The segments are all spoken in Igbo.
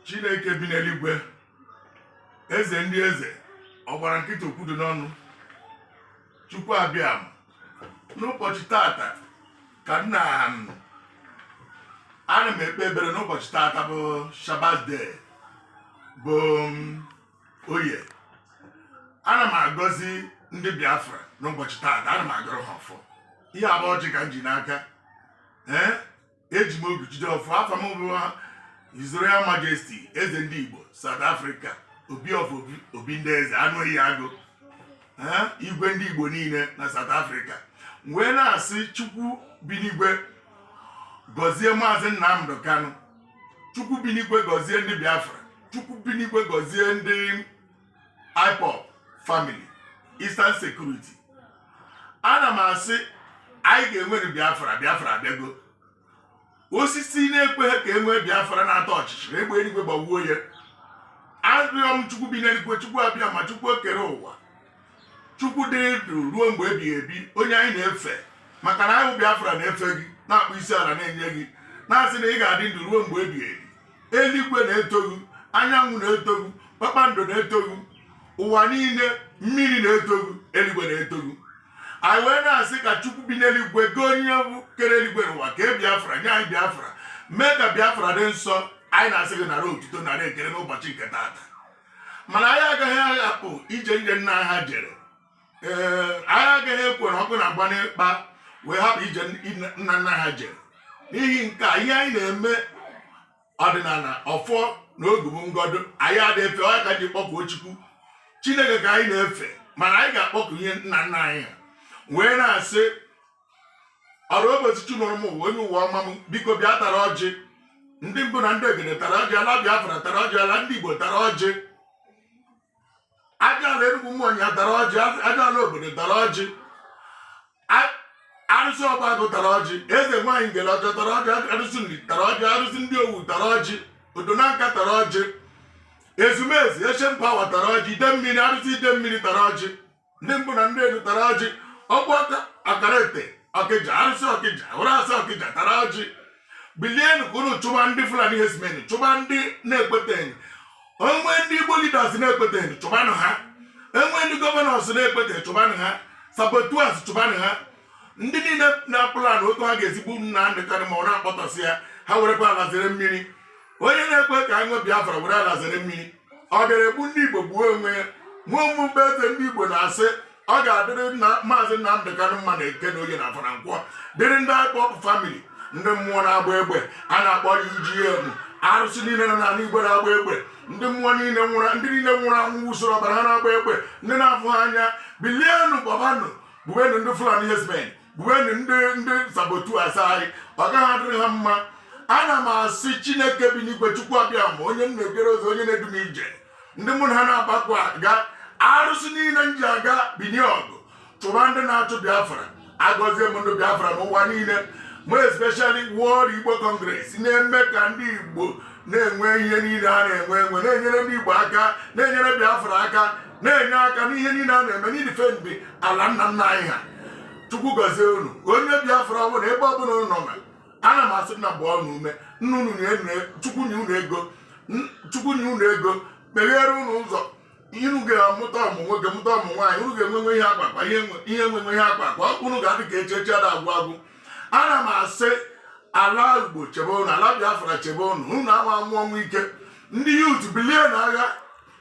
chineke bi n'eluigwe eze ndị eze ọ gbara nkịtị okwu dọ n'ọnụ chukwu abịa m n'ụbọchị tata ka nna m ana m ekpe ekpere n'ụbọchị tata bụ shabbat day bụ oye ana m agọzi ndị biafra n'ụbọchị tata ana m agọrọ ha ọfọ ihe a bụ ọjị ka m ji n'aka ee eji m ogu jide ọfọ afa m bụ His Royal Majesty eze ndị Igbo South Africa obi of obi ndị eze anụ eyi agụ igwe ndị Igbo niile na South Africa wee na-asị Chukwu bi n'igwe gọzie maazị Nnamdị Kanụ Chukwu bi n'igwe gọzie ndị Biafra Chukwu bi n'igwe gọzie ndị IPOB family Eastern Security ana m asị anyị ga-enwere Biafra Biafra abịago osisi na-ekweghị ka e nwee Biafra na-atọ ọchịchịrị egbe eluigwe gbagbuo ya arịọ m Chukwu bi n'eluigwe Chukwu abịama Chukwu okere ụwa Chukwu dị ndụ ruo mgbe ebighị ebi onye anyị na-efe maka na anyị bụ Biafra na-efe gị na-akpụ isi ala na-enye gị na-asị na ị ga-adị ndụ ruo mgbe ebighị ebi eluigwe na-eto gị anyanwụ na-eto gị kpakpando na-eto gị ụwa niile mmiri na-eto gị eluigwe na-eto gị anyị wee na-asị ka chukwu bi n'eluigwe gị onye bụ kere eluigwe na ụwa kee biafra nye anyị biafra mee ka biafra dị nsọ anyị na-asị gị nara otuto nara ekele n'ụbọchị nke tata mana anyị agaghị aghapụ ije ije nna ha jere ee anyị agaghị ekwere ọkụ na-agba n'ikpa wee hapụ ije nna nna ha jere n'ihi nke a ihe anyị na-eme ọdịnala ọfọ na ogu bụ ngodo anyị adị efe ọ ka ji kpọkuo chukwu chineke ka anyị na-efe mana anyị ga-akpọku ihe nna nna anyị ha wee na-asị ọrụ ụbọchị chi mụrụ m ụwa onye ụwa ọma m biko bịa tara ọjị ndị mbụ na ndị egede tara ọjị ala biafra tara ọjị ala ndị igbo tara ọjị ajala enugwu umuonyia tara ọjị ajala obodo tara ọjị arụsị ọgbagụ tara ọjị eze nwaanyị ngele ọjọọ tara ọjị arụsị nri tara ọjị arụsị ndị owu tara ọjị odo nanka tara ọjị ezumezu ancient power tara ọjị idemmiri arụsị idemmiri tara ọjị ndị mbụ na ndị edu tara ọjị ọkpụ aka akara ete ọkịja arụsị ọkịja ụrasị ọkịja tara ọjị bilienu ka unu chụba ndị fulani herdsmen chụba ndị na-ekweteghị e nwee ndị igbo leaders na-ekweteghị chụbanụ ha e nwee ndị governors na-ekweteghị chụbanụ ha saboteurs chụbanụ ha ndị niile na-aplan otu ha ga-esi gbuo nnamdị kanụ ma ọ na-akpọtọsị ya ha werekwa ala zere mmiri onye na-ekwe ka anyị nwee biafra were ala zere mmiri ọ bịara egbu ndị Igbo gbuo onwe ya mụ ọ mụ bụ eze ndị Igbo na-asị ọ ga-adịrị maazị Nnamdị Kanụ mma na eke na oye na afọ na nkwọ dịrị ndị IPOB family ndị mmụọ na-agba egbe a na-akpọ UGM arụsị niile nọ n'ala igbo na-agba egbe ndị mmụọ niile nwụrụ ndị niile nwụrụ anwụ usoro ọbara ha na-agba egbe ndị na-afụ ha anya bilienụ gbabanụ gbubenụ ndị fulani herdsmen gbubenụ ndị saboteurs anyị ọ gaghị adịrị ha mma ana m asị chineke bi n'igwe chukwu abịama onye m na-egere ụzọ onye na-edu m ije ndị mụ na ha na-agbakọ aga arụsị niile m ji aga binie ọgụ chụba ndị na-achụ biafra agọzie m ndị biafra n'ụwa niile more especially World Igbo Congress na-eme ka ndị Igbo na-enwe ihe niile ha na-enwe na-enyere ndị Igbo aka na-enyere Biafra aka na-enye aka n'ihe niile a na-eme n'idefend ala nna nna anyị ha chukwu gọzie unu onye biafra ọ bụla ebe ọ bụla unu nọ ana m asị nna gbaa unu ume nna unu chukwu nye unu ego chukwu nye unu ego meghere unu ụzọ unu ga-amụta ọmụ nwoke mụta ọmụ nwaanyị unu ga-enwenwe ihe akpa akpa ihe enwenwe ihe akpa akpa unu ga-adị ka echi echi ada agwụ agwụ ana m asị ala igbo chebe unu ala biafra chebe unu unu ama anwụ ọnwụ ike ndị youth bilie na agha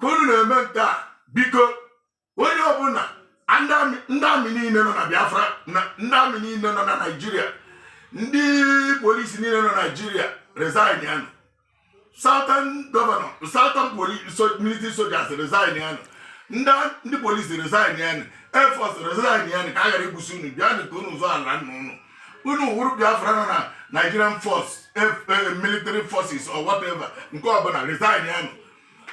ka unu na-eme nke a biko onye ọbụla ndị army niile nọ na biafra ndị army niile nọ na naijiria ndị police niile nọ na naijiria resignianụ southern governor southern military soldiers resignianụ ndị police resignianụ air force resignianụ ka a ghara igbusi unu bịanụ ka unu zọọ ala nna unu unu wụrụ biafra nọ na nigerian force eh, eh, military forces or whatever nke ọbụla resignianụ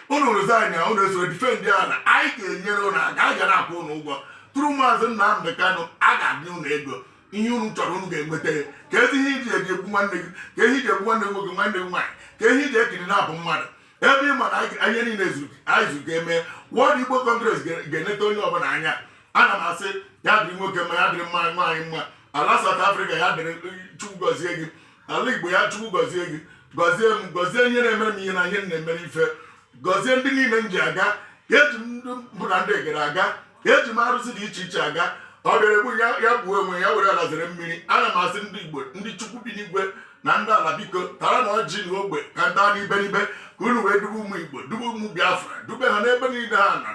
unu resignia unu esoro defend ala anyị ga-enyere unu aka anyị ga na-akwụ unu ụgwọ through maazị Nnamdị Kanụ a ga-enye unu ego ihe unu chọrọ unu ga-enweta ya keezi ihe i ji egbu nwanne gị kee ihe i ji egbu nwanne nwoke nwanne gị nwaanyị kee ihe i ji ekiri na-egbu mmadụ ebe ị ma na ihe niile anyị zuru ga-eme World Igbo Congress ga-eneta onye ọbụla anya ana m asị ya dịrị nwoke mma ya dịrị nwaanyị mma ala South Africa ya dịrị Chukwu gọzie gị ala igbo ya chukwu gọzie gị gọzie m gọzie onye na-emere m ihe na onye m na-emere ife gọzie ndị niile m ji aga eji m ndị mbụ na ndị egede aga eji m arụsị dị iche iche aga ọ bịara egbu ya ya gbuo onwe ya were ala zere mmiri ana m asị ndị igbo ndị chukwu bi n'igwe na ndị ala biko taranụ ọjị n'ogbe ka m ta n'iberibe ka unu wee dube ụmụ igbo dube ụmụ biafra dube ha n'ebe niile ha nọ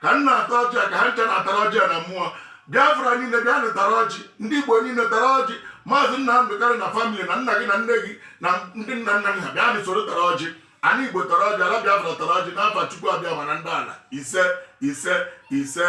ka m na-ata ọjị a ka ha ncha na-atara ọjị a na mmụọ biafra niile bịanụ tara ọjị ndị igbo niile tara ọjị maazị Nnamdi Kanu na family na nna gị na nne gị na ndị nna nna gị ha bịanụ soro tara ọjị anị igbo tara ọjị ala biafra tara ọjị n'afa chukwu abịama na ndị ala ise ise ise